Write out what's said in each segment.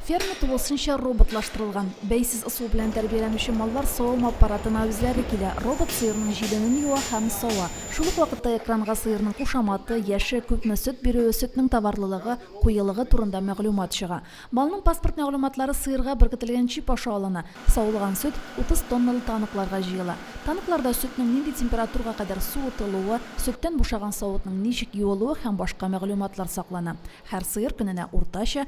Ферма тулысынча роботлаштырылган. Бәйсез ысул белән тәрбияләнүче маллар савым аппаратына үзләре килә, робот сыерның җиленен юа һәм сава. Шул ук вакытта экранга сыерның кушаматы, яше, күпме сөт бирүе, сөтнең товарлылыгы, куелыгы турында мәгълүмат чыга. Малның паспорт мәгълүматлары сыерга беркетелгән чип аша алына. Савылган сөт 30 тонналы таныкларга җыела. Таныкларда сөтнең нинди температурга кадәр суытылуы, сөттән бушаган савытның ничек юылуы һәм башка мәгълүматлар саклана. Һәр сыер көненә уртача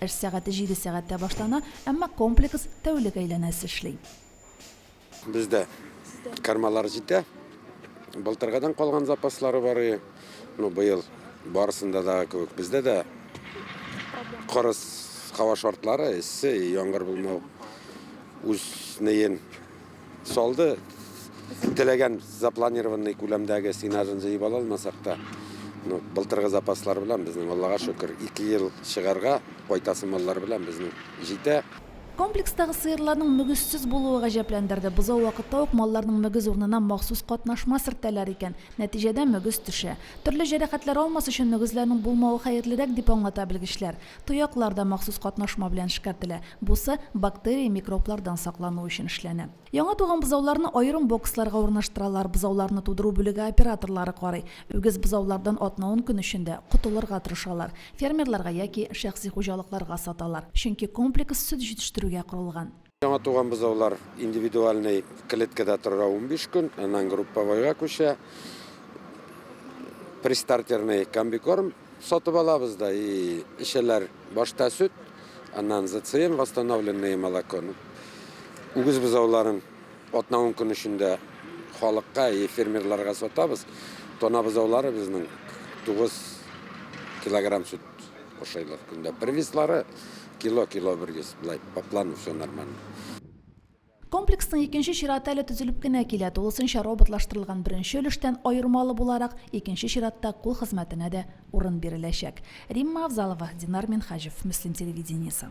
Эш сәгате җиде сәгатьтә башлана, әмма комплекс тәүлек әйләнәсе эшли. Бездә кармалар җитә. Былтыргыдан калган запаслары бар. Ну, быел барысында да кебек. Бездә дә кырыс һава шартлары, эссе, яңгыр булмау үз неен Салды. Теләгән запланированный күләмдәге сенажын җыеп ала алмасак та, ну, былтыргы запаслар белән безнең, Аллага шөкер, ике ел чыгарга кайтасы маллар белән безнең җитә. Комплекстагы сыерларның мөгезсез булуы гаҗәпләндерде. Бозау вакытта ук малларның мөгез урынына махсус катнашма сөртәләр икән. Нәтиҗәдә мөгез төшә. Төрле җәрәхәтләр алмас өчен мөгезләрнең булмавы хәерлерәк, дип аңлата белгечләр. Тояклар да махсус катнашма белән эшкәртелә. Бусы бактерия, микроблардан саклану өчен эшләнә. Яңа туган бозауларны аерым боксларга урнаштыралар, бозауларны тудыру бүлеге операторлары карый. Үгез бозаулардан атна-ун көн эчендә котылырга тырышалар. Фермерларга яки шәхси хуҗалыкларга саталар, чөнки комплекс сөт җитештерүгә корылган. Яңа туган бозаулар индивидуальный клеткада тора 15 көн, аннан групповойга күчә. Пристартерный комбикорм сатып алабыз да и эчәләр башта сөт, аннан ЗЦМ восстановленное молоко. Ну, Үгез бозауларын атна 10 көн эчендә халыкка и фермерларга сатабыз. Тона бозаулары безнең 9 килограмм сөт Ашайлар көндә бер веслары, кило-кило бер вес, былай по плану все нормально. Комплексның икенче чираты әле төзелеп кенә килә, тулысынча роботлаштырылган беренче өлештән аермалы буларак, икенче чиратта кул хезмәтенә дә урын биреләчәк. Римма Авзалова, Динар Минһаҗев, Мөслим телевидениесе.